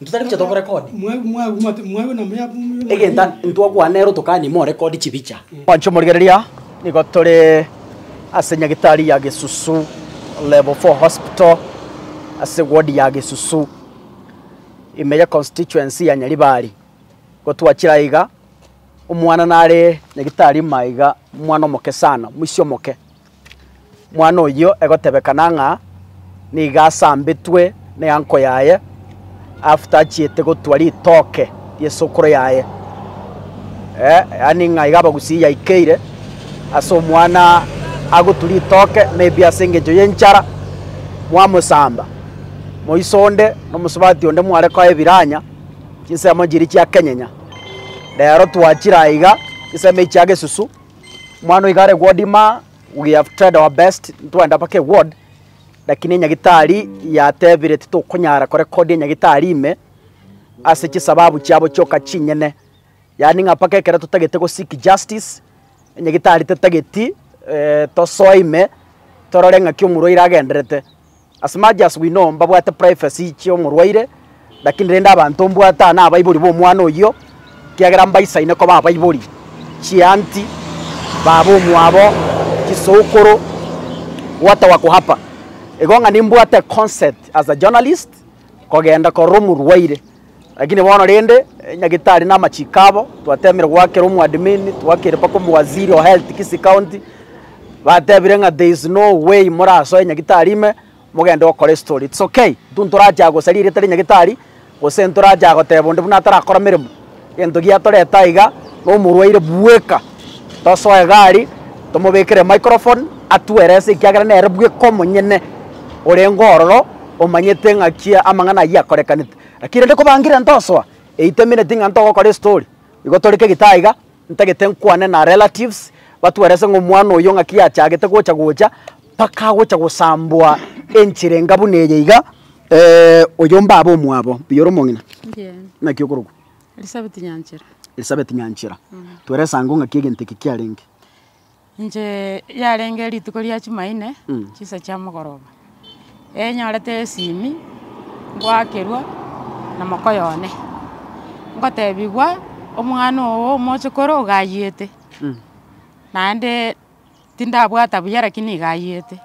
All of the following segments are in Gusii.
Intwe tari gocha tokorekodi. Egenta ntwakwana nere otokanie morekodi chibicha. Mwanche omorigereria, nigo tore ase nyagitari ya Gesusu Level Four Hospital ase ward ya Gesusu ime ye constituency ya Nyaribari. Igo twachire aiga, omwana nare nyagitari ime aiga, omwana omoke sana, omoisia omoke. Omwana oyio egotebekana ng'a nigo asambetwe n'eanko yaye after achiete gotwa ritoke ri'esokoro yaye, eh, yaani ng'a iga abagusii yaikeire ase omwana agotwa ritoke maybe ase engencho y'enchara, mwamosamba. Moiso onde na omosubati onde mware koa ebiranya, chinsemo chiria chiakenyenya. Rero twachire aiga, chinsemo echi chi'agesusu. Mwana oiga are ward maa, we have tried our best ntwende mpaka eward, lakini enyagitari yatebire titokonyara korekodia enyagitari ime ase chisababu chiabo chioka chinyene. Yaani ng'a mpaka ekero totagete go seek justice, enyagitari tetageti tosoe ime torore ng'aki omorwaire agenderete. As much as we know mbabwate privacy chi'omorwaire, lakini rende abanto mbwate aa nabaibori b'omwana oyio, ekiagera mbaisaine koba abaibori, chianti, baba omwabo, chisokoro, what a wako hapa. Igo ng'a nimbwate consent as a journalist kogenda korora omorwaire. Lakini bono rende, nyagetari na amachiko abo, twatemire goakera omwadmin, twakeire mpaka omowaziri o health Kisii County, batebire ng'a there is no way morasoe nyagetari ime mogende gokora estory. It's okay, intwe ntorache gosaria eria etari nyagetari, gose ntorache goteba onde buna atarakora meremo. Gento giatoreta aiga nomorwaire bweka tosoe gari tomobekere microphone atuelese ekiagera nere bweka omonyene orenge ororo omanyete ng'aki amang'ana ayio akorekanete. Lakini rende kobangire ntosoa eight minute ng'a ntogokora estory igo tore kegita aiga ntagete nkwane na relatives batuelese ng'a omwana oyo ng'aki yachagete gocha gocha mpaka agocha gosambwa enchera enga buna eye iga. Oyo mbabe omwabo oyore omong'ina, naki okorokwa? Elisabeti Nyanchera. Elisabeti Nyanchera, twerese ango ng'aki egento eke kiarenge. Inche yarenge rituko ria chimaine, chisa chia mogoroba, enyorete esimi ngoakerwa na mokoyo one, ngotebigwa omwana ogo omochokoro ogayiete, naende. tindabwata buya lakini nigo ayete,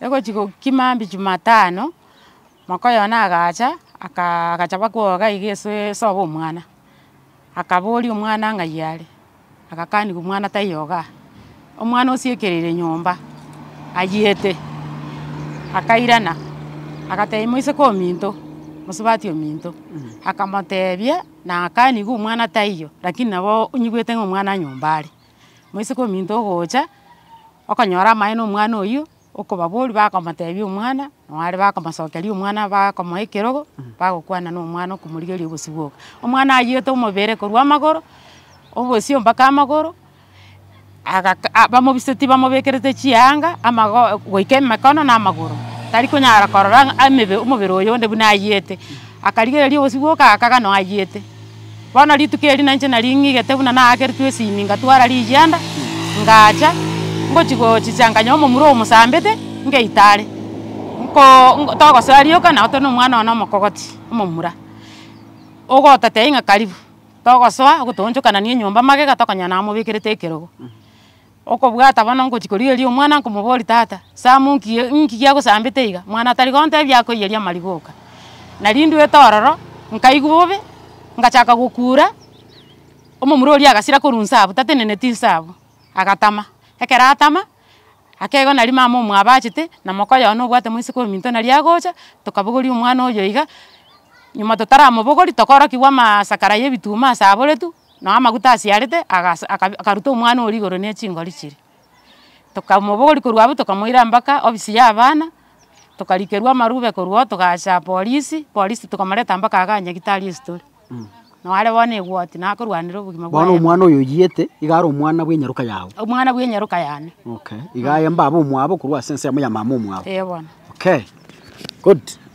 egochi gokima mambia jumatano, mokoyo one agacha aka- agachaba kwoga iga ase esobo omwana, akaboria omwana ng'ai are, agakaniwa omwana taiyogaa, omwana osiekereire nyomba, ayete, akairana, agatebia moiseke ominto, mosubati ominto, akamotebia na akaniwa omwana taiyo, lakini nabo onyigwete ng'a omwana nyomba are. Moiseke ominto ogocha, okonyora amaye na omwana oyio, okobaboria bakomotebia omwana, nabare bakomosokeria omwana bakomoa ekerogo, bagokwana na omwana okomorigereria obosio bwoka. Omwana ayiete omobere korwa amagoro, obosio mpaka amagoro, agaka a- bamobisetie bamobekerete chianga, amago goika emekono na amagoro, tari konyara korora ng'a amebe omobere oyo onde buna ayiete, akarigereria obosio bwoka agakaga noo ayiete. Bono rituko eri nainche nari ng'igete buna naakeretwe esimi, ngatwara rigianda, ngacha, ngochia gochicha nkanya omomura omosambete, ngeita are. Nko nko togosoa rioka nabo tore na omwana one omokogoti, omomura, ogototebia ng'a karibu, togosoa, ogotoonchokanania enyomba magega tokonyora namobekerete ekerogo. Okobwata bono ngochia korigereria omwana nkomoboria tata Sam nki nki giagosambete iga? Mwana tari gontebia akoiyeria amariga oka. Nari ndwete ororo nkaigwa bobe ngachaka gokura, omomura oria agasira korwa inse abwo tateneneti inse abwo, agatama. Ekero atama, akegwa nari mama omwabo achete na moka oyono obwate moiseke ominto nari agocha, tokabogoria omwana oyo iga, nyuma totaramobogori tokorokigwa amaasakara ya ebituma ase aboretwe, Nao amaguta asiarete agasa akabi akaruta omwana oria igoro ne chingori chiria, tokamobori korwa abwo tokamoira mbaka ofisi ya abana, tokarikerwa amarube korwa oo togacha polisi, polisi tokamoreta mbaka iga nyagetari esitore, nao are bono egwoti nakorwanera obogima bwaye. Bono omwana oyo oyiete iga are omwana bw'enyaroka yago? Omwana bw'enyaroka yane. Okay, iga aye mbabe omwabo korwa ase ensemo ya mama omwabo? Eeh bono. Okay, good.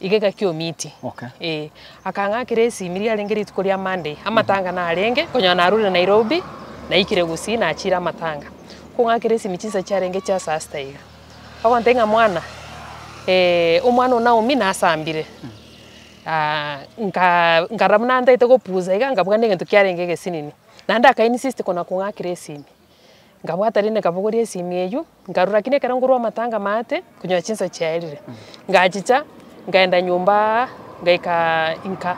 igega ki'omiiti, ee, akang'akera esimi riarenge rituko ria Monday, amatanga narenge, konyora narure Nairobi, naikire gusii nachire amatanga, kong'akera esimi chinsa chiarenge chia saa sita iga, bagontebia ng'a mwana, eh, omwana o Naomi nasambire, ah, nka nkarora buna ntaete gopusa iga, nkabua buna egento kiarenge egesinini, naende aka insist kona kong'akera esimi, nkabwata rende nkabogoria esimi eywo. Nkarwa, lakini ekero nkorwa amatanga maate, nkonyora chinsa chiaerire. Ngachicha, nkaenda nyomba ngaika inka.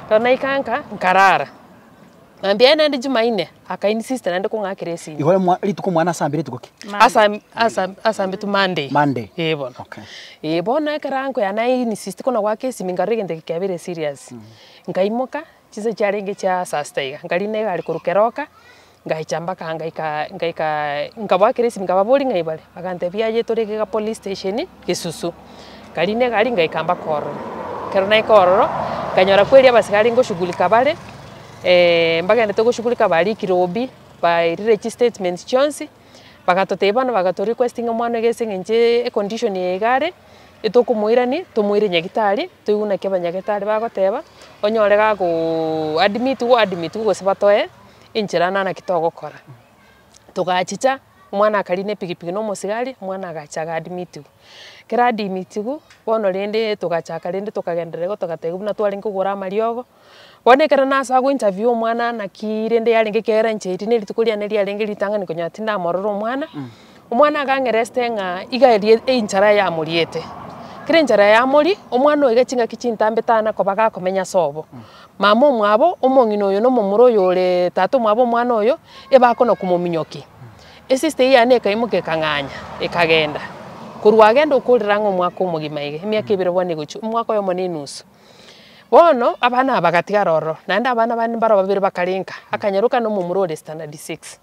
Ekero naika nka, nkarara. Mambia aye naende Jumaine, akaini sister naende kong'akera esimi. Igo omwa rituko omwana ase ambire rituko ki? Ase am- ase am- ase ambitwe Monday. Monday. Eeh bono. Okay. Eeh bono ekero ankoyana aini sister kona goaka esimi nkarora egento eke kiabire serious. Nkaimoka, Chinsa chiarenge chia saa sita iga, nkariina egari korwa keroka, ngacha mpaka ngaika ngaika nkaboa kera esimi nkababoria ng'a ibare, bagantebia aye tore iga police station Gesusu. Nkariina egari ngaika mpaka ororo, ekero naika ororo, nkanyora kweri abasigari ngoshughulika bare, mbagendete goshughulika bariikire obi, bairire chistatement chionsi. Bagatotebia bono baga to requesting omwana iga ase eng'encho e condition eye iga are, etokomoirani, tomoire nyagitari, toigwe naki abanyagitari bagoteba, onyore gago admitiwa o admitiwe gose batoe enchera na naki togokora. Togachicha, omwana akaria na epikipiki na omosigari, omwana agacha aga admitiwa. Kera admitiwa, bono rende togachaka rende tokagenderera igo togateba buna twarenge kogora amariogo. Bono ekero nase ago interview omwana naki rende yarenge ekero yarangereti ne rituko riane riarenge ritang'ani konyora tindamorora omwana, omwana akang'ereste ng'a iga erie enchara yamoriete. Kera enchara yamoria, omwana oiga ching'aki chintambe tana koba gakomenya ase obo. Mama omwabo, omong'ina oyo na omomura oyo ore tata omwabo omwana oyo, ebakona komominyoki. Esister eyio yane ekaimoka ekang'anya, ekagenda. Korwa agenda okorera ang'e omwaka omogima iga, emiaka ebere bono egochia, omwaka oyomo na enusu. Bono abana aba bagatigara ororo, naende abana bande mbaro babere bakarenka, akanyeroka na omomura ore standard six.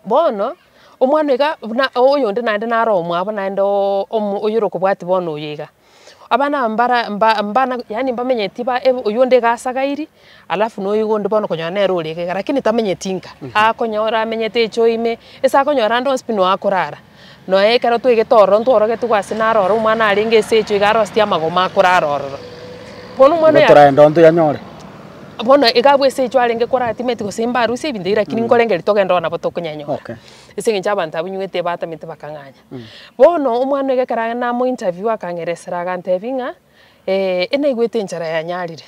Bono, omwana oyo iga buna oyonde naende nare omwabo naende oo omo oyorokobwatia bono oyo iga. Abana aba mbara mba mbana yaani mbamenyeti ba oyonde iga asagairi, Alafu noyoigo onde bono okonyora nere ore egega lakini tamenyeti nka. Akonyora amenyete echo ime, ase akonyora ande onsi pi no akorara. Noe ekero toigete ororo ntworogetigwe ase naro ororo omwana arenge ase echo iga aroseti amagoma akorara ororo. Bono omwana Igo oyo toragenda onto yanyore. bono iga abwo ase echo arenge kora timeti gose mbarusia ebinto ebiya lakini nkorengeria togende ororo nabo tokonyanyora. Okay. Ase eng'encho abanto abwo nywete batamete bakang'anya. Bono omwana iga ekero namointerview akang'eresera agantebia ng'a, enaigwete enchara yanyarire.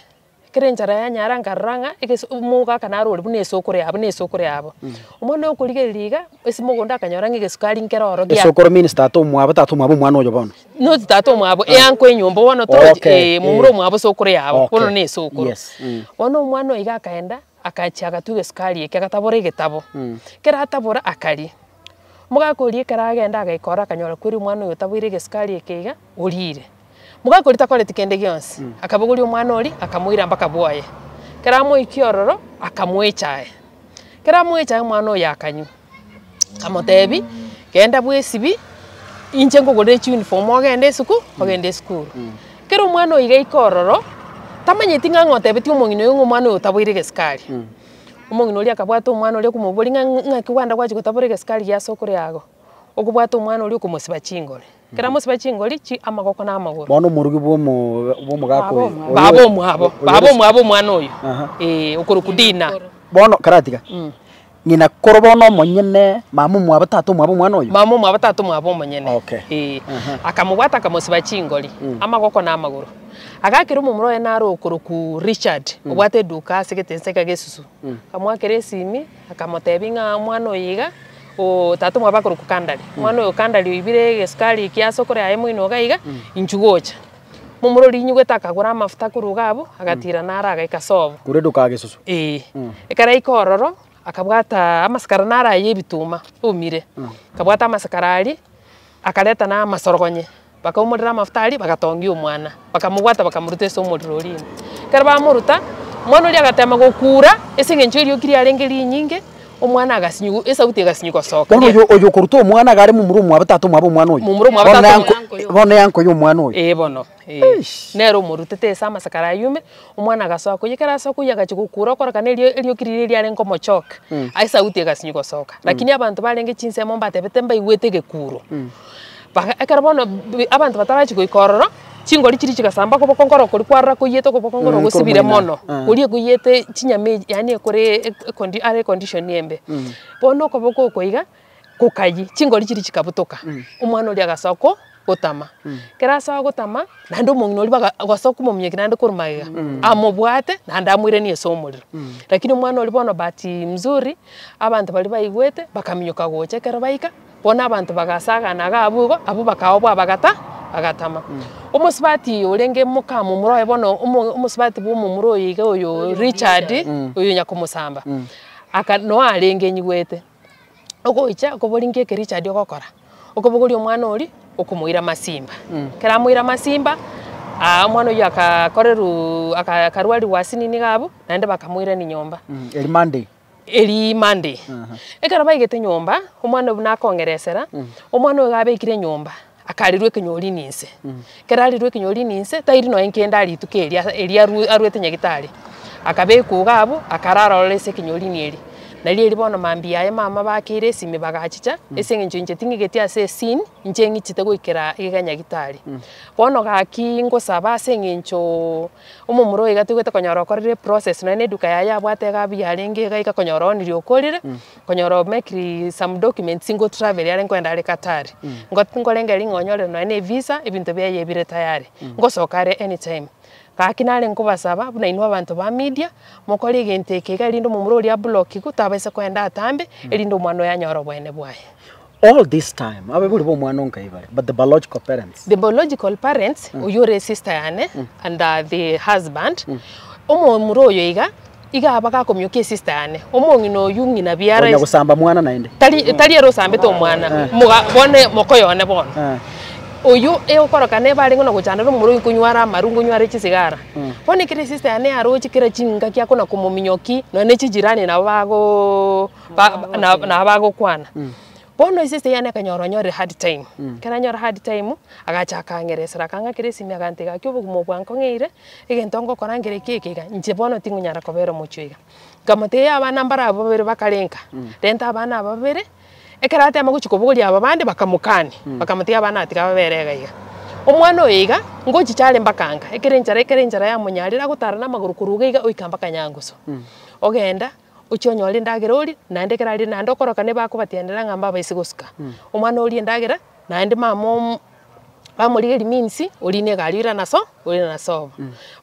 Ekero enchara yanyara nkarora ng'a egese omoga aka naro ore buna esukuru yabo na esukuru yabo. Omwana oyo okorigereria iga, ase mogondo akanyora ng'a egesukari nkero oro gia Esukuru means tata omwabo, tata omwabo omwana oyo bono. not tata omwabo, eanko enyomba bono toro Okay, eh, momura eh. omwabo esukuru yabo, bono Okay, na esukuru. yes, mm. Bono omwana oyo iga akaenda, akachia agatwa egesukari ekio agatabora egetabo. Kero atabora akaria, Omogaka oria ekero agenda agaika ore akanyora kweri omwana oyo taboire egesukari eke iga, oriire. Omogaka oria takoreti kende gionsi, akabogoria omwana oria akamoira mpaka bwoye. Ekero amoikia ororo, akamoecha aye. Ekero amoecha aye omwana oyo akanywa. Akamotebi, genda bwesibi, inche nkogorere chiuniform ogende esuku, ogende esukuru. Ekero omwana oyo iga aika ororo, tamanyeti ng'a ng'a otebeti omong'ina oyo ng'a omwana oyo taboire egesukari. Omong'ina oria akabwata omwana oria akomoboria ng'a ng'aki gwanda gwachia gotabora egesikari giase okore ago, okobwata omwana oria okomosiba chingori. Ekero amosiba chingori, chi amagoko na amagoro. Bono omorugi bw'omo- bw'omogaka oyo. Baba omwabo, baba omwabo omwana oyo, Aha. eeh, okorokwa Dina. Bono karatiga, ng'ina koro bono omonyene, mama omwabo tata omwabo omwana oyo? Mama omwabo tata omwabo omonyene. Okay. Eeh. Aha. Akamobwata akamosiba chingori, amagoko na amagoro. Agakera omomura oye naro okoroku Richard, obwate eduka ase egetensa kia Gesusu. Akamoakera esimi, akamotebi ng'a omwana oyo iga, o tata omwabo akoroku Kandari. Omwana oyo Kandari oibire egesukari ekia ase okore aye moino iga iga, inchu gocha. Momura oria inyugete akagora amafuta korwa iga abwo, agatira naro agaika ase obo. Korwa eduka ya Gesusu. Eeh. Ekero aika ororo, akabwata amasikara naro aye ebituma, omire. Akabwata amasikara aria, akareta na amasorogonye. Bakaumorera amafuta aria, bagatongia omwana, bakamobwata, bakamoruta ase omorero oria ime. Ekero bamoruta, omwana oria agateema gokuura, ase engencho erioki riarenge rinyinge, omwana agasinywa, esauti egasinywa gosoka. Bono oyo, oyo okoruta omwana iga are momura omwabo tata omwabo omwana oyo? Momura omwabo Bono tata naye omwabo anko- bono naye ankoya omwana oyo? Ee bono, ee. Eish. Nere omorutete ase amasakara ayio ime, omwana agasoka koiyia, ekero asoka koiyia agachia gokuura okorokana erio- erioki riria riarenge komochoka, esauti egasinywa gosoka. Lakini abanto barenge chinsemo mbatebete mbaigwete egekuuro. Baka, ekero bono bi- abanto batarachia goika ororo, chingori chiria chigasamba okoboko nkoro okoria kwarora koiyete okoboko nkoro Mm, ogosibire koromoina, mono, eh. koria ekoiyete chinyama echi yaani ekore eko- ekondi are econdition embe. Bono okoboko oko iga, kokayia, chingori chiria chikabutoka, omwana oria agasoa ko gotama. Ekero asoa gotama, naende omong'ina oria baga agasoa komominyokia naende korwa magega, amobwate naende amoiranie ase omorero. Lakini omwana oria bono bahati mzuri, abanto baria baigwete, bakaminyoka gocha ekero baika. Bono abanto bagasagana iga abwo igo, abwo bakaoa bwabagata, bagatama. Omosubati oyo orenge moka momura oye bono, omo- omosubati bwa omomura oyo iga oyo Richard, oyo nyakomosamba, aka noe arenge enyigwete, ogocha okobori nki eke Richard ogokora, okobogoria omwana oria, okomoira masimba. Ekero amoire masimba, aa omwana oyio aka- korerwa aka- akarwarigwa asinini iga abwo, naende bakamoirani nyomba. Eria Monday. erii Monday. Ekero baigete nyomba, omwana oyio buna akong'eresera, omwana oyo iga abekire nyomba, akarirwa ekenyori ninse. Ekero arirwe ekenyori ninse, tairi nonya nkende aria rituko erio ase erio arwe arwete nyagitari. Akabekwa iga abwo, akarara ororo ase ekenyorini erio. Nario erio bono mambia aye mama bakeire esimi bagachicha, ase eng'encho inche ting'igeti ase esini, inche ng'ichete goikera iga nyagitari. Bono gaki ngosaba ase eng'enchoo. Omomura oyo iga toigwete konyora okorire process nonya na eduka yaye yabwate iga abu yarenge iga iga konyora oonirie okorire, konyora o make some documents ngo travel are nkoenda are Qatar. Ngot nkorenge ring'o onyore nonya na evisa, ebinto biaye bire tayari, ngosoka are any time. Gaki nare nkobasaba buna inwe abanto ba media, mokore egento eke iga erinde omomura oria ablockigwe, tabaisa koenda atambe, erinde omwana oyo anyore oboene bwaye. All this time abaibori b'omwana onkai bare, but the biological parents. The biological parents, oyio ore esister yane and uh, the husband, omomura oyo iga, iga aba gakomiokia esister yane, omong'ina oyio ng'ina biara Onya esi- gosamba mwana naende. tari tari ere osambete omwana moga bone mokoyo one bono Eh. oyio egokorokana ebare ng'ona gochandana omomura oyio nkonyware amaru nkonyware chisigara bono ekero esista yane yaroche kera chingaki akona komominyoki nonye ne chijirani nabo bago Ba- ba- na- nabo bagokwana bono esese yane ekanyora onyorire hard time ekero anyora hard time agacha akang'eresera akang'akera esimi agantega gaki obogima obo bwankong'eire egento ngokora nkere ki eke iga inche bono tingonyara kobera omochio iga nkamotebia abana mbaro abwo babere bakarenga renta abana aba babere ekero atema gochia kobogoria aba bande bakamokania bakamotebia abana aba tiga babere iga iga omwana oyo iga ngochicha are mpaka anga ekero enchara ekero enchara yamonyarire agotara namagoro korwa iga iga oika mpaka nyangusu ogenda Ochia onyore endagera orie, naende ekero aria naende okoroka nigo bakobatianera ng'a mbabaise gosuka. Omwana orie endagera, naende mama omo- bamorigeria means, orie na egari oirana ase oo, oirana ase oo.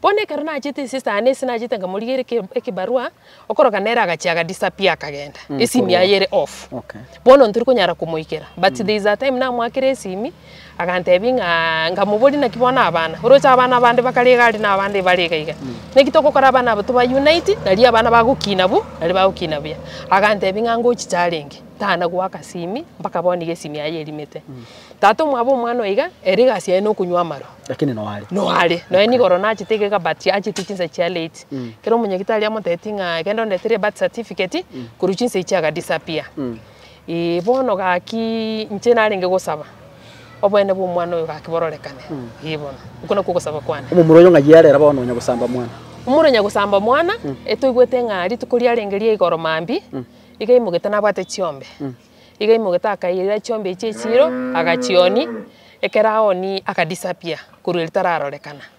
Bono ekero nachete esista yane ase nachete nkamorigeria eke- ekebarua, okoroka nere agachia aga disappear akagenda, esimi yaye ere off. Okay. Bono ntorikonyara komoikera, but there is a time namoakire esimi, Agantebi ng'a, Nkamoboria, naki bono abana? Oroche abana abande bakare iga aria na abande ibare iga iga. Naki togokora abana aba toba unite, nario abana bagokina bo, nario bagokina buya. Agantebi ng'a ngochiche arenge, tanagoaka simi, mpaka bono iga esimi yaye erimete. Tata omwabo omwana oiga, ere egasi yaye nokonywa amaro. Lakini no are. No are. Nonya nigo oro nachete iga iga but achete chinsa chia late. Kero omonyagitari amotebeti ng'a genda ondetera ebirth certificate, korwa chinsa echio aga disappear. Ee, bono gaki inche narenge gosaba, obwene bw'omwana oyo gaki bororekane. Ee bono, okwo nakwo ogosaba kwane. Omomura oyo ng'ai arera bono onya gosamba mwana? Omura onya gosamba mwana, etoigwete ng'a rituko riarenge ria igoro mambia, iga aimogete nabwate chiombe. Iga aimogete akaira chiombe echi echiiro, agachionia, ekero aonia aka disappear korwa erio tararorekana.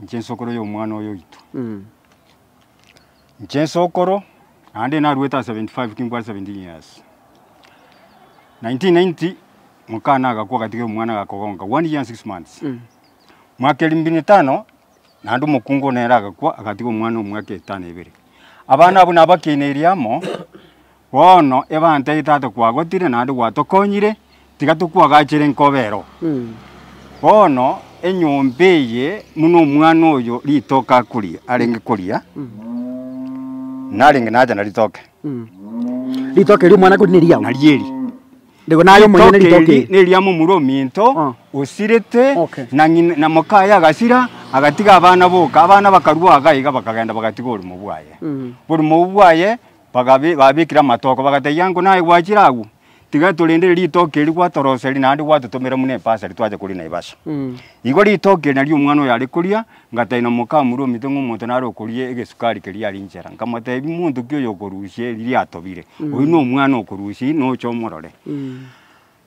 Inche nsokoro y'omwana oyo oito. Inche nsokoro, naende narwete ase seventy five kingwe ase seventeen years. Nineteen ninety, mokana agakwa agatiga omwana agakogonka, one year and six months. Mwaka eria mbino etano, naende omokungu nere agakwa agatiga omwana omwaka etano ebere. Abana abwo nabakeneiri amo. Bono ebanteete ate kwagotire naende gwatokonyire, tiga tokwagachere nkobero. Bono enyomba eye buna omwana oyo ritoke akoria, arenge koria, narenge nacha naritoke. Ritoke ri'omwana akoria neriao? Nario eri. Rigo naye omonyene Ritoke ritoke eri eri. neria momura ominto Ah. osirete Okay. na ng'ina na mokaye agasira agatiga abana boka abana bakarua iga iga bakagenda bagatiga oborimo bwaye oborimo obwo bwaye Bakabe, babekire amatogo, bagategia ng'o, Naye gwachire agwo, tiga torendere ritoke eri gwatoroseri naende gwatotomera buna epasa eri twacha koria Naivasha. Igo ritoke eri nario omwana oyo are koria, ngataina omokamura omito ng'a omonto nare okoria egesukari keria are inchera. Nkamotebia, Monto ki oyo okorusia eri riatobire? Oyio nomwana okorusia eri, noche omorore.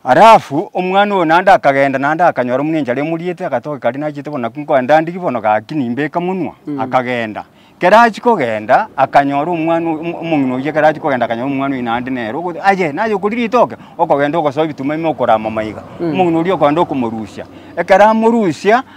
Alafu omwana oyo naende akagenda, naende akanyora omongencho aria omoriete, agatoka kare nachete bono nakwo nkoa ndandigi bono gaki nimbeka monwa, akagenda. Kera achia kogenda, akanyora omwana oyo, omo- omong'ina oyio ekero achia kogenda akanyora omwana oyo naende nere ogo, aye naye okori ritoke, okogenda ogosoa ebitumamima okorama maiga. Omong'ina oria okogenda okomorusia, ekero amorusia.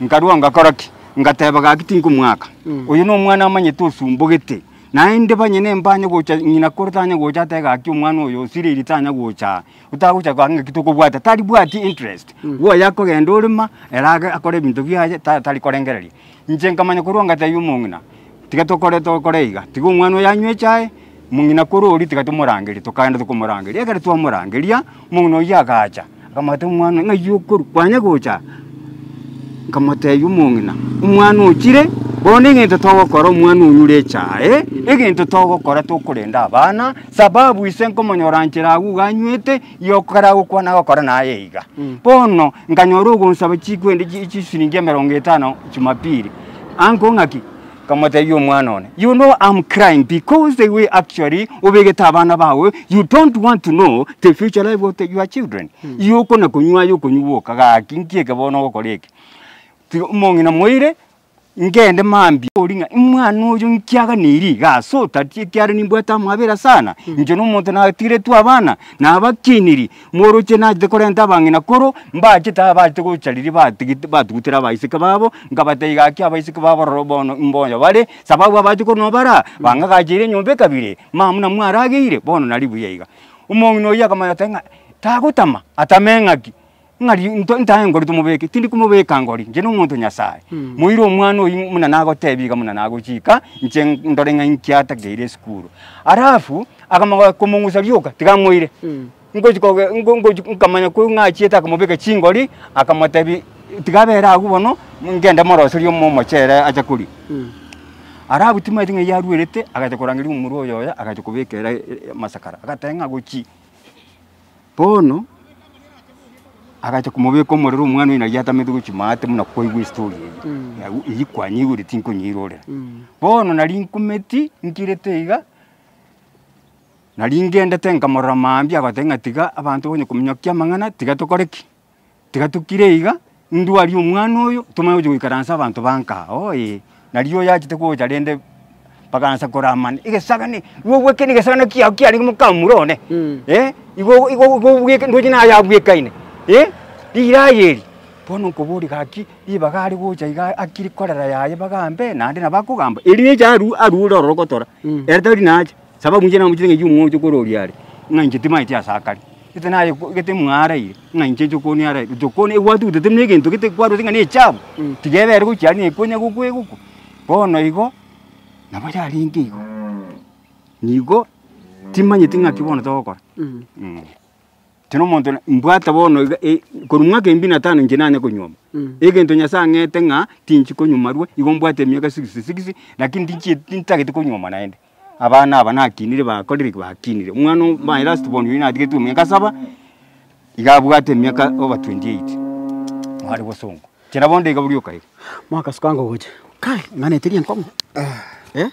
Nkarua ngakora ki? Ngateba, Gaki tinkomoaka. Oyo nomwana amanyete osumbogete, naende banyene mbanye gocha ng'ina kore tanya gocha atebe gaki omwana oyo osiriri tanya gocha aa. Otagocha gaki ng'aki tokobwata, taribwati interest. Bwo oyo akogenda orema, ere age akore ebinto biaye ta tari korengereria. Inche nkamanya korwa ngatebia omong'ina. Tiga tokore tokore iga, tiga omwana oyo anywe echae, mong'ina korwa oria tiga tomorangerie. Tokaenda tokomorangeria, ekero twamorangeria, omong'ina oyio agacha, akamotebia omwana, ng'ai okorwa? Kwanya gocha aa? Nkamotebia omong'ina, omwana ochire, bono egento togokora omwana onyure echae, egento togokora tokorenda abana, sababu ise nkomonyora nchera agwo iga anywete. Yokora gokwana gokora naye iga. Bono nkanyora ogonsaba chikwendi chi- chisiringi emerongo etano Jumapili. Anko ng'aki? Nkamotebia omwana one, you know I'm crying because the way actually obegete abana bago, you don't want to know the future life of the your children. Igo okona konywa aye okonywa gwoka gaki nki eke bono ogokora eke? Tiga omong'ina moire. Ngende mambia ori ng'a imwana oyo nkiaganirie iga ase otari, ekiagera nimbwate amabera sana, inche na omonto natigetwe abana, nabakiniri, mworoche nachete korenta abang'ina koro, mbachete abachete gocha riria batigete batugutera abaiseke babo, nkabatebia gaki abaiseke babo roro bono mboyo bare, sababu abachete korwa nabo baraa, bang'agacheire enyomba ekabere, mama buna mwarageire, bono nari buya iga. Omong'ina oyio akamanya akamanya ng'a tagotama, atame ng'aki? Ng'a ri- nto- ntahe ngori tomobeke, tindi komobeka ngori, inche nomonto Nyasae. Moire omwana oyio buna nagotebia iga buna nagochika, inche ndore ng'a inki atakeire esukuru. Alafu akamoga komong'usa rioka, tiga amoire. Ngochi koge ngo- ngochi nkamanya ko ng'a achiete akamobeka chingori, akamotebia tiga abere agwo bono, ngende moroserie omo- omochere ache koria. Alafu timaeti ng'a yarwerete, agacha korangeria omorwa oyoyo, agacha kobeka ere e- e- amasakara. Agateba ng'a gochi. Bono agacha komobeka omorero omwana oye nari atamete gochia maate buna kwaigwa estory eye, nabo eywo kwanyeigorete tinkonyeirorera. Bono nari nkumeti nkirete iga, nari ngendete nkamorora mambia agoteba ng'a tiga abanto bakonye kominyokia amang'ana tiga tokore ki? Tiga tokire iga, ndwarie omwana oyo, tomanye gochia goikaransa abanto ba nka aa, oo ee. Nari oyachete gocha rende bakaansa koramana, egesagani, igo obwekenie egesagani kiago kiarenge mokamura one, eh, igo igo obwekeni ndoche naye abwekaine, eh, riraa eri. Bono nkoboria gaki, ribaga are gocha iga akire korera yaye bagambe, naende nabo akogamba, eri richa aru arure ororo gotora, ere tari nacha. Sababu inche namochete ng'a inche omwonte okore oria are, ng'a inche timaeti ase akare, gete naye gete mwaraire ng'a inche inche okoni araire. Gocha okoni ebwatu gocha tari na egento gete kwarwete ng'a nechabu, tiga ebe ere gochia aria nekonya gokwegoka. Bono igo, nabo yarenge igo, nigo timanyeti ng'aki bono togokora. Inche na omonto mbwate bono iga e- korwa mwaka embio na tano inche nanye konyuoma, egento Nyasaye ang'ete ng'a tinchi konyuoma arwe, igo mbwate emiaka sixty six, lakini tinchie tintagete konyuoma naende. abana aba nakinire bakorire ki? Bakinire. Omwana o- my last born oyio natigetie emiaka saba, iga abwate emiaka over 28, nare bosongo. Chera bondo iga boria okaire. Mwakasuka ango gocha. Kai, ing'anete riankong'u. Eh?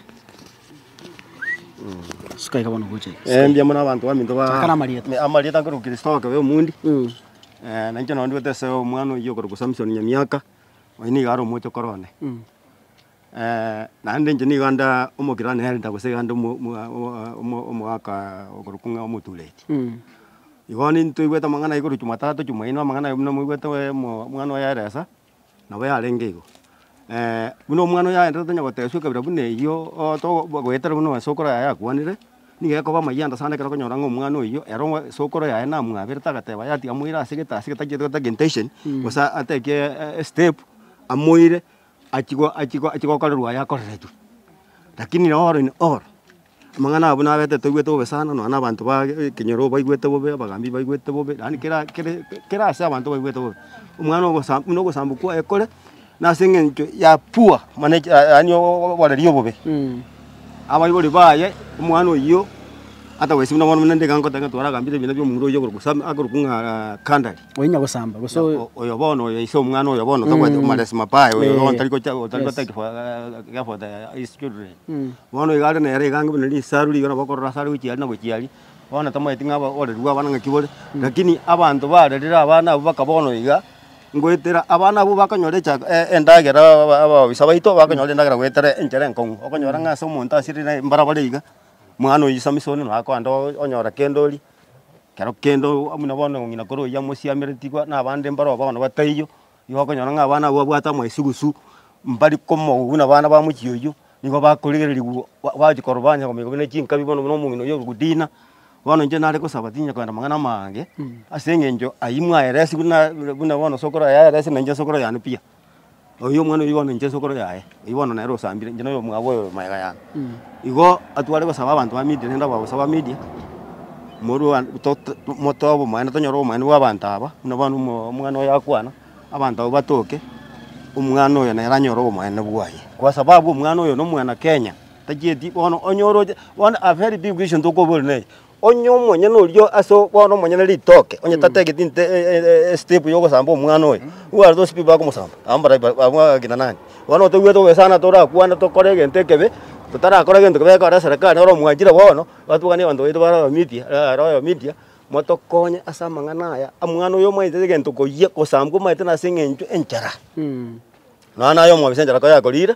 Suka iga bono gocha iga. Eh, mbuya mono abanto baminto ba- Chaka namarieta. Ne- amarieta nkere okristo okebe omondi. Mm. Eh, nainche nonye ndwete ase omwana oyio okorokwa Samson Nyamiaka, oyio niga are omochokoro one. Mm. Naende inche nigo nda omokiro neenda gose iga nda omogaka okorokwa ng'a omotureti. Igo bono ntoigwete amang'ana aye korwa chumatatu, chumaine amang'ana aye buna moigwete oemo omwana oye aeresa, nabo yarenge igo. buna omwana oye aenderete onye gotebia ekabira buna eyio oto goetera buna ase okoro yaye akwanire, nigo ekoba amayia ande sana ekero okonyora ng'a omwana oyio ero ng'a ase okoro yaye namwaberete agateba yatiga amoira ase egetaasi getachetetwe geta geintention, gose ateki estep amoire. Achigwe achigwe achigwe gokorerwa aya akoreretwe. Rakini nao ore ne ore, amang'ana abwo nabete toigwete bobe sana, nonya na abanto ba ekenyoro baigwete bobe, abagambi baigwete bobe, yaani kera kere kera ase abanto baigwete bobe. Omwana ogosa buna ogosambokwa ekore, nase eng'encho ya poor manage yaani oo oboreri obobe. Abaibori baye, omwana oyio, hata gose buna bono buna ndigokoteba ng'a twaragambire ebina bia omura oyio oborokwa sam akorokwa ng'aa kandare. oinya gosamba gose oyo- O- oyo bono oyo ise omwana oyo bono tobwati omaresi mabaya oyo Eh. bono tari gocha tari Yes. gotaki for effort ya his children Mm. bono iga are nere iga ang'e buna risaru riria nabo okorora ase are gochia aria na gochia aria bono tamaeti ng'a aba- oreri bwa abana ng'aki bore lakini abanto barerire abana abwo baka bono iga ngoetera abana abwo bakonyora echa e- endagera aba- abaoisa baito bakonyora endagera goetera enchera enkong'u okonyora ng'a ase omonto asirire mbara bare iga mwana oyo isamisa one naye akoenda o- onyora kende oria. Kero kende buna bono ng'ina kore oyio amosiameretigwa na abande mbaro bono bataiyo, nigo okonyora ng'a abana abwo babwate amaesugusu, mbari komobu buna abana ba mochie oyio, nigo bakorigererigwa gwa gwachi koroba onye kominyoka buna chinkabi bono buna omong'ina oyio orikudina, bono inche nare gosaba tinyara kogenda amang'ana amange, ase eng'encho aywo mwaeresi buna buna bono sokoro yaeresi na inche sokoro yane pi. oyio omwana oyio bono inche nsokoro yaye, oyio bono nere osambire inche noyo omwabo oyo mayega yane. Igo atware gosaba abanto ba media rende abwo bagosaba media, morwe one to- to motoe obomaene tonyore obomaene bwa abanto aba, buna bono omo omwana oyo akwana, abanto abwo batoke, omwana oyo nere anyore obomaene bwaye. Kwa sababu omwana oyo nomwana Kenya, tachieti bono onye oroche, bono a very big issue ntokoboria nere, Onye omonyene oria ase bono omonyene ritoke, onye tategete inte estep yogosamba omwana oye, nigo are tosipi bagomosamba, abwo mbare abwo abagakina nani? Bono toigwete goesana torakwane tokore egento ekebe, totarakora gento kebe ekore eserekari noro omwanchire bono, batuganie abanto baito bare abamedia are abamedia, motokonye ase amang'ana aya, omwana oyo omanyete egento koyia, gosambwa omanyete nase eng'encho enchara. Nonya naye omwabisa enchara koyakorire,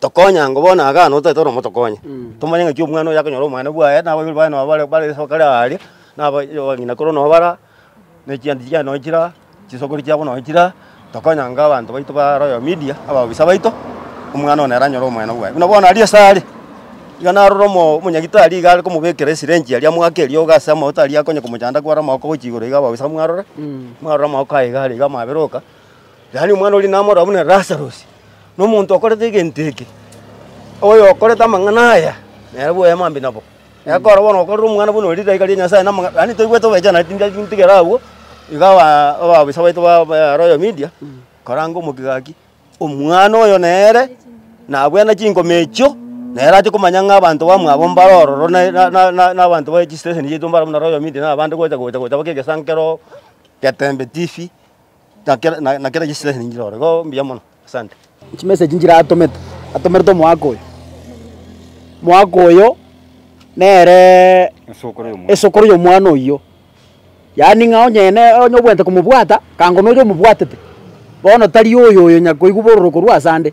Tokonya ngo bono iga nabo totagete oromo tokonye. Tomanye ng'aki omwana oyo akonyora obomwana bwaye, na abaibori baye nabo bare bare ase bakare aaria, na aba abang'ina korwa nabo bara aa, na echianti chiaye nonye chire aa, chisokoro chiabo nonye chire aa, tokonya ngo abanto baito ba Royal Media, abaobisaa baito, omwana one ere anyore obomwene bwaye. Buna bono aria ase are, iga narora omo omonyagitari iga are komobekera esirenji eria mwake eriogo ase amaoto aria akonya komochanda kware amaoko gochia igoro iga abaobisaa mwarore, mwarore amaoko aye iga are iga amaberoka, Yaani omwana oria namoroba buna Lazarosi, na omonto okorete egento eke, oyo okorete amang'ana aya, nere bwoye mambia nabo. Ekero bono okorire omwana buna oria ridaika ria Nyasae na amang'a, yaani toigwete obwechaananeti nginya gintigere agwo, iga aba abaofisa baito ba ba Royal Media, koranga omogigaki, omwana oyo nere nabwene chingoma echio, nere ache komanya ng'a abanto bamwabo mbare ororo na na na na na abanto ba chistesheni chiaito mbare buna Royal Media na abande gocha gocha gocha mpaka egesankero, getembe tifi. na kera na- na kera chisilahi ninchire ore. Igo mbuya mono. Asante. Chimessage nchire atomete, atomerete omwaka oyo, mwaka oyo nere Esokoro y'omwa. esokoro y'omwana oyio, yaani ng'a onye ne onye obwenerete komobwata, kangona oyo omobwatete, bono tari oyo oyo nyakoigwa bororo korwa asande.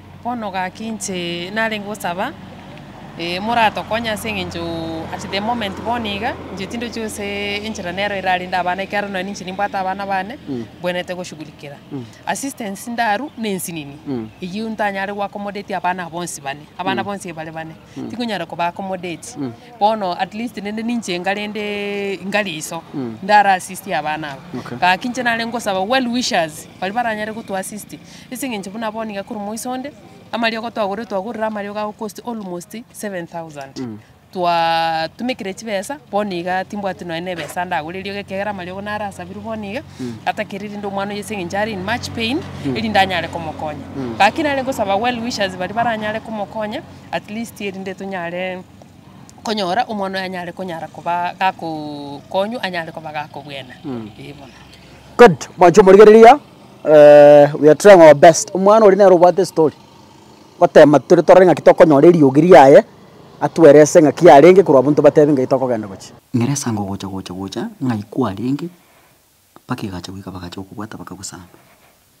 Bono gaki inche narenge gosaba, eh, moratokonye ase eng'encho at the moment bono iga, inche tindochi gose enchera nero erarende abana ekiagera nonya ninche nimbwate abana bane, mbwenerete goshugurikera. Assistance ndarwa, na ensinini, eyio ntanyare goakomodetia abana bonsi bane, abana bonsi bare bane. Tikonyara koba accommodate. Bono at least rende ninche enga rende enga riso. Ndara assist abana aba. Okay. Gaki inche nare ngosaba well wishers baria baranyare gotu assist. Ase eng'encho buna bono iga korwa moiso onde, amariogo twagorire twagorire amariogo ago cost almost 7,000. Twa tumekire chibesa, bono iga timbwati nonya na ebesa ndagore eriogo ekiagera amariogo naro asabirwe bono iga. Atakire rende omwana oyio ase eng'encho are in much pain, erinde anyare komokonya. Gaki nare ngosaba well wishers baria baranyare komokonya. at least erinde tonyare konyora omwana oye anyare konyara koba gakokonywa anyare koba gakobwena. Eeh bono. Good, mwancho omorigereria, eh, we are trying our best. Omwana oria nere obwate estory, gotema tore torore ng'aki tokonyora eriogi riaye, atwerese ng'aki yarenge korwa abwo ntobatebe ng'ai tokogenda gochia. Ngeresa ngo gocha gocha gocha ng'ai kwarenge mpaka egacha goika bagacha gokobwata bakagosamba.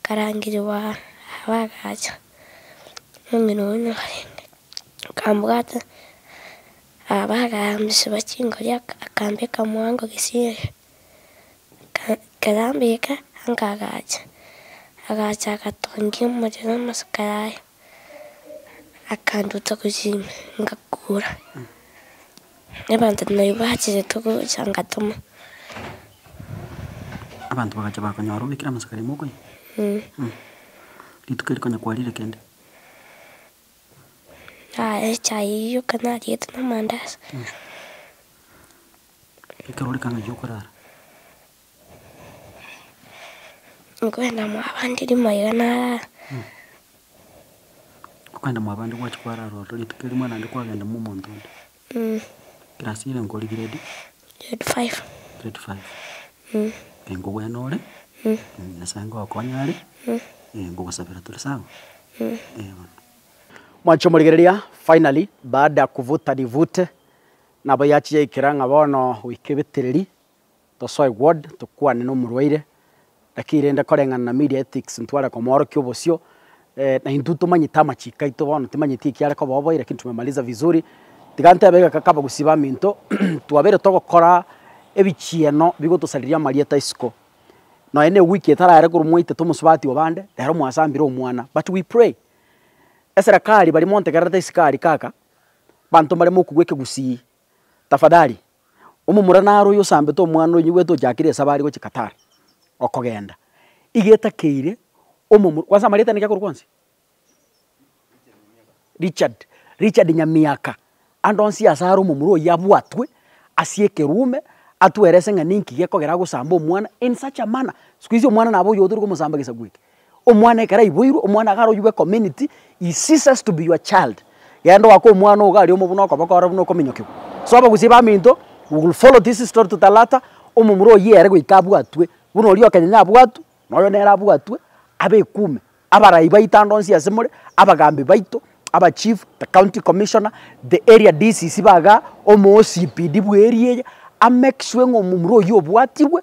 Nkarangigwa abe agacha nomino one orenge, akambwata abe agaambisiwa chingori akambeka mwango gesieri. Ekero ambeka anka agacha, agacha agatongia omorero amasiko yaye. akanduta gochia ime, ngakura. Abanto nabaria bachirete gocha ngatoma. Abanto bagacha bakonyora obekire amasaka arimo okonya? Eeh. Rituko erio konya kwarire kende? Nararire echae eyio ekero nariete na amandazi. Ekero ore kang'ai gi'okorara? Nkwenda mwabande rimo iga narara. Okwenda mwabande gwachia kwarara ororo rituko erimo naende kwagenda mo omonto onde. Class ere nkori grade? Grade five. Grade five. Ee nkogwena ore, Nyasaye ngokonye are, ee nkogosabera tore sawa? Ee bono. Mwachia omorigereria finally baada ya kuvuta nivute nabo yachia yaikera ng'a bono goika ebetereri Tosoe ward tokwane nomorwaire, naki rende koreng'ana na media ethics ntware komoorokia obosio, na intwe tomanyete amachiko aito bono timanyeti eki are koba oboiyi lakini tumemaliza vizuri. Tiga ntebe iga kaka abagusii baminto, twabeire togokora ebichieno bigotosariria amarieta isiko, nonya na eweek etarare korwa mwaitete omosubati obo ande, rero mwasambire omwana but we pray. Eserekari baria montegererete isiko aria kaka, abanto mbaremokogwa ekegusii. Tafadhali, omomura naro oyo osambete omwana oyo nigwete ochakire esabari gochia Qatar, okogenda, igetakeire omomura, kwanza amarieta aino ki akorokwa onsi? Richard, Richard Nyamiaka, ande onsi ase are omomura oyio abwatwe ase ekerume, atwerese ng'a ninki gekogera agosamba omwana in such a manner. Siku hizi omwana nabo oyo otari komosamba egesaku eke. Omwana ekero aiboirwe, omwana iga aroiwe community, he ceases to be your child. Genda oake omwana ogo aria omo buna okoboko ore buna okominyokigwa. So abagusii baminto, we will follow this story to the latter, omomura oyio ere goika abwatwe, buna oria okenyenya abwatwe, na oyo nere abwatwe, abe ekume. Abarai baito ande onsi ase more, abagambi baito, aba chief, the county commissioner, the area DCC ba igaa, omo OCPD bwa area eye, a make sure ng'a omomura oyio obwatirwe,